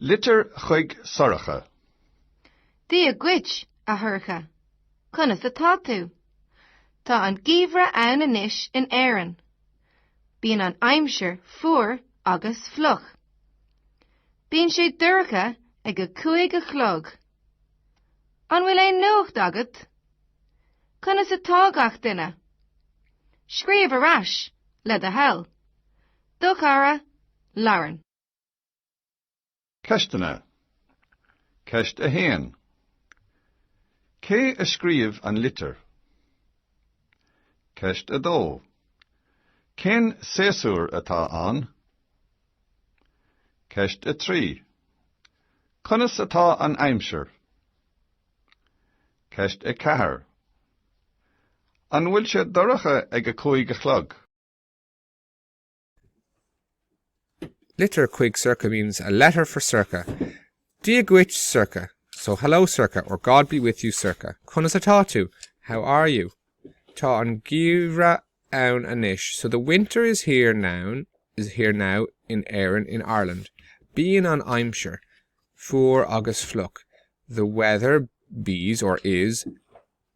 Litir chuig Sorcha. Dia dhuit, a Shorcha. Conas atá tú? Tá an geimhreadh ann anois in Éirinn. Bíonn an aimsir fuar agus fliuch. Bíonn sé dorcha ag a cúig a chlog. An bhfuil aon nuacht agat? Conas atá gach duine? Scríobh ar ais, le do thoil. Do chara, Lauren. Ceisteanna. Ceist 1. Cé a scríobh an litir? Ceist 2. Cén séasúr atá ann? Ceist 3. Conas atá an aimsir? Ceist 4. An bhfuil sé dorcha ag a cúig a chlog? Litir chuig Sorcha means a letter for Sorcha. Dia dhuit, Sorcha. So hello, Sorcha, or God be with you, Sorcha. Conas atá tú? How are you? Tá an geimhreadh ann anois. So the winter is here noun is here now in Éirinn in Ireland. Bíonn an aimsir fuar agus fliuch. The weather bees or is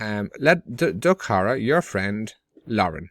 le do chara, your friend, Lauren.